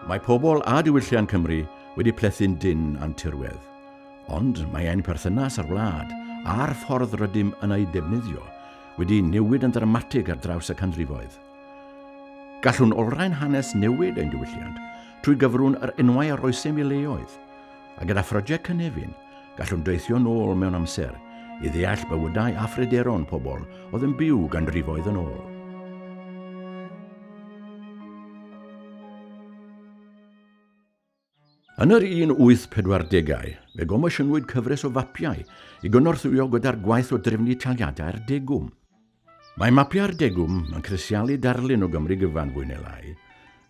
Mae pobl a diwylliant Cymru wedi plethu'n dynn a'n tirwedd, ond mae ein perthynas â'r wlad a'r ffordd rydym yn ei defnyddio wedi newid yn ddramatig ar draws y canrifoedd. Gallwn olrhain hanes newid ein diwylliant trwy gyfrwng yr enwau a roesem i leoedd, a gyda phrosiect Cynefin, Gallwn deithio'n ôl mewn amser i ddeall bywydau a phryderon pobl oedd yn byw ganrifoedd yn ôl. Yn yr 1840au, fe gomosiynwyd cyfres o fapiau i gynorthwyo gyda'r gwaith o drefnu taliadau'r degwm. Mae mapiau'r degwm yn crisialu darlun o Gymru gyfan fwy neu lai,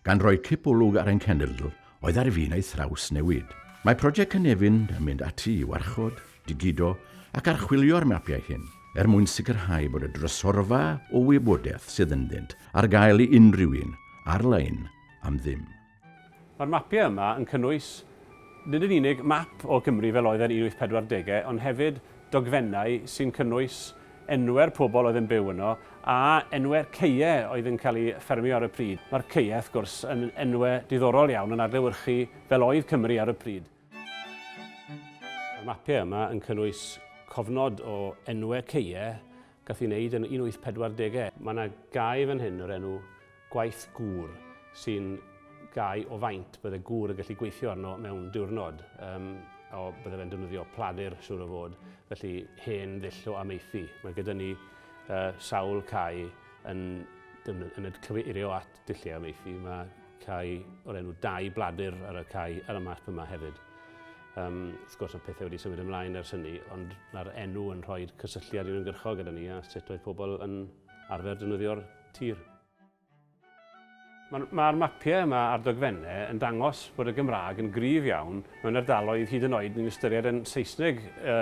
gan roi cip olwg ar ein cenedl oedd ar fin ei thrawsnewid. Mae Project Cynefin yn mynd ati i warchod, digido ac archwilio'r mapiau hyn, er mwyn sicrhau bod y drysorfa o wybodaeth sydd ynddynt ar gael i unrhyw un, ar-lein, am ddim. Mae'r mapiau yma yn cynnwys nid yn unig map o Gymru fel oedd e'n 1840au ond hefyd dogfennau sy'n cynnwys enwau'r pobl oedd yn byw yno a enwau'r caeau oedd yn cael eu ffermio ar y pryd. Mae'r caeau, wrth gwrs, yn enwau diddorol iawn yn adlewyrchu fel oedd Cymru ar y pryd. Mae'r mapiau yma yn cynnwys cofnod o enwau caeau gath ei wneud yn 1840au. Mae yna gae fan hyn o'r enw gwaith gŵr sy'n gau o faint bydde gŵr yn gallu gweithio arno mewn diwrnod. Um, o, bydde fe'n defnyddio pladur, siwr o fod, felly hen ddull o ameithi. Mae gyda ni uh, sawl cae yn, yn y cyfeirio at dulliau ameithi. Mae cae o'r enw dau bladur ar y cae ar y map yma hefyd. Um, wrth gwrs mae pethau wedi symud ymlaen ers hynny, ond mae'r enw yn rhoi cysylltiad i'n ymgyrchol gyda ni a sut oedd pobl yn arfer defnyddio'r tir. Mae'r mapiau yma a'r dogfennau yn dangos bod y Gymraeg yn gryf iawn mewn ardaloedd hyd yn oed ni'n ystyried yn Saesneg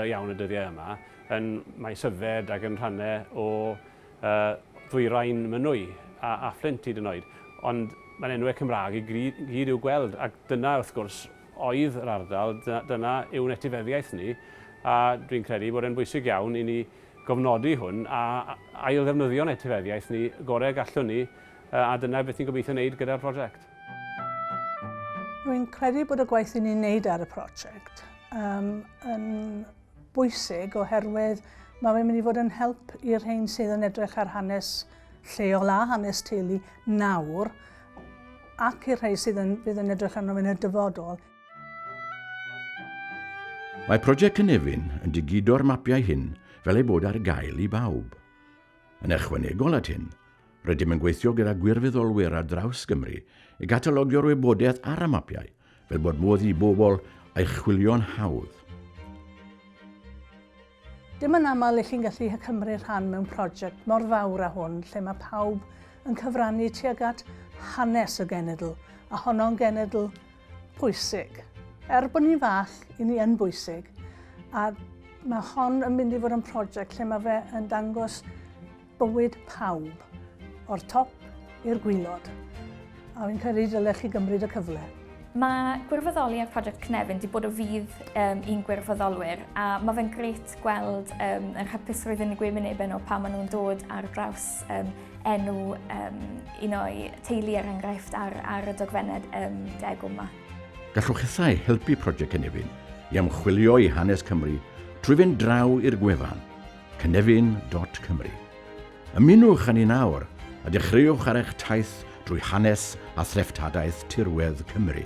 iawn y dyddiau yma, yn Maes Yfed ac yn rhannau o Ddwyrain Mynwy a Fflint hyd yn oed. Ond mae'n enwau Cymraeg i gyd i'w gweld ac dyna wrth gwrs oedd yr ardal, dyna yw'n etifeddiaeth ni a dwi'n credu bod e'n bwysig iawn i ni gofnodi hwn a ailddefnyddio'n etifeddiaeth ni gorau y gallwn ni a dyna beth ni'n gobeithio wneud gyda'r prosiect. Rwy'n credu bod y gwaith i ni'n neud ar y prosiect um, yn bwysig oherwydd mae fe'n mynd i fod yn help i'r rhain sydd yn edrych ar hanes lleol a hanes teulu nawr ac i'r rhai sydd yn, fydd yn edrych arno fe'n y dyfodol. Mae Project Cynefin yn digido'r mapiau hyn fel ei bod ar gael i bawb. Yn ychwanegol at hyn, rydym yn gweithio gyda gwirfoddolwyr ar draws Gymru i gatalogio'r wybodaeth ar y mapiau fel bod modd i bobl ei chwilio'n hawdd. Dim yn aml i chi'n gallu cymryd rhan mewn prosiect mor fawr â hwn lle mae pawb yn cyfrannu tuag at hanes y genedl, a honno'n genedl pwysig. Er bod ni'n fach, i ni yn bwysig, a mae hon yn mynd i fod yn prosiect lle mae fe yn dangos bywyd pawb, o'r top i'r gwylod, a fi'n credu dylech chi gymryd y cyfle. Mae gwirfoddoli ar Project Cynefin wedi bod o fydd um, i'n gwirfoddolwyr a mae fe'n gret gweld um, yr hapusrwydd yn y gwynebau nhw pan maen nhw'n dod ar draws um, enw um, un o'i teulu er enghraifft ar, ar y dogfennau um, deg yma. Gallwch hithau helpu Project Cynefin i ymchwilio i hanes Cymru trwy fynd draw i'r gwefan Cynefin dot Cymru. Ymunwch â ni nawr a dechreuwch ar eich taith drwy hanes a threftadaeth tirwedd Cymru.